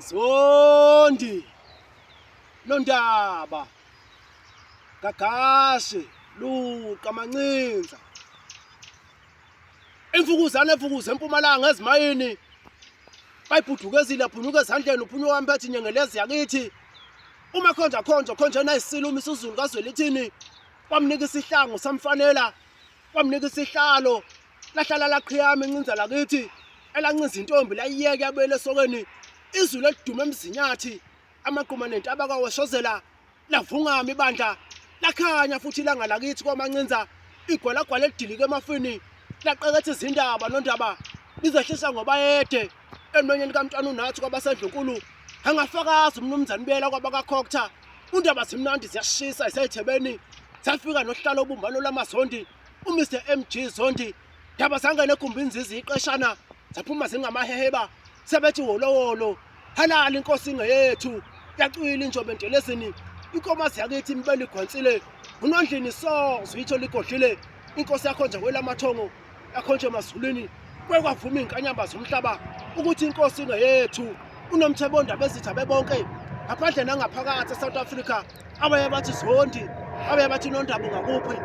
Zondi Nondaba Gagashe Luqa Mancinza Imfukuzane efukuze empumalanga ezimayini bayibhudukezile aphunyuka ezandleni uphunyuka wami bathi nyengelezi yakithi uma khonja khonja khonjena isilo uma isizulu kazwelithini wamnika isihlangu samfanela wamnika isihlalo lahlala laqhiyama encinza lakithi elancinza intombi layiyeke yabuyela esokeni izulu elidume emzinyathi amagquma nentaba kawashozela lavungama ibandla lakhanya futhi ilanga lakithi kwamancinza igwalagwala elidilike emafini laqeketha izindaba nondaba lizehlisa ngobayede emlonyeni kamntwana unathi kwabasendlunkulu angafakazi umnumzane ubuyela kwabakakhokta undaba zimnandi ziyashisa isethebeni zafika nohlala obumbano lamazondi umr mg zondi ndaba zangene egumbini zizi iqeshana zaphuma zingamaheheba sebethi wolowolo halala inkosi ingeyethu yacwila injobe ntelezini inkomazi yakithi imibele igwansile unondlini so zwitho ligodlile inkosi yakho nje kwelamathongo yakhonje emazulwini kwekwavuma izinkanyamba zomhlaba ukuthi inkosi ingeyethu unomthebo ondaba ezitha bebonke ngaphandle nangaphakathi eSouth Africa abaye bathi zondi abaye bathi nondaba ungakuphi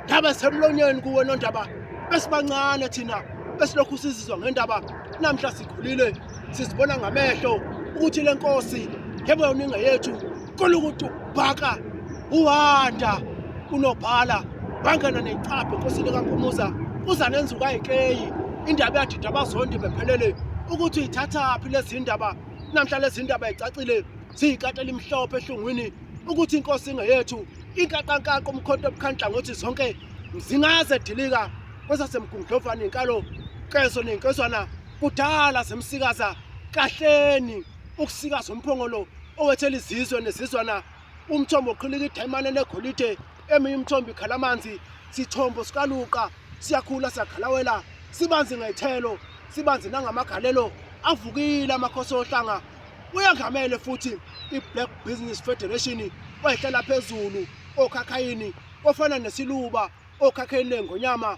ndaba semlonyeni kuwe nondaba besibancane thina besilokhu sizizwa ngendaba namhla sikhulile sizibona ngamehlo ukuthi lenkosi yebo yona ingeyethu Kona ukuthi ubhaka uhanda unobhala bangena necaphe nkosini kampumuza uzanenza ukayikeyi indaba eyadida abazondi bephelele ukuthi uyithathaphi lezi ndaba namhla lezi ndaba icacile ziyikati elimhlophe ehlungwini ukuthi inkosi ingeyethu inkaqankaqo umkhonto obukhandla ngothi zonke zingaze dilika kwesasemgungudlovane inkalo keso nenkezwana kudala zemsikaza kahleni ukusikaza umphongolo owethela izizwe nezizwana umthombo oqhilika idayimane negolide eminye umthombo ikhala amanzi sithombo sikaluqa siyakhula siyaghalawela sibanzi ngethelo sibanzi nangamagalelo avukile amakhosi ohlanga uyangamele futhi i-black business federation oyihlala phezulu okhakhayini ofana nesiluba okhakhayini lengonyama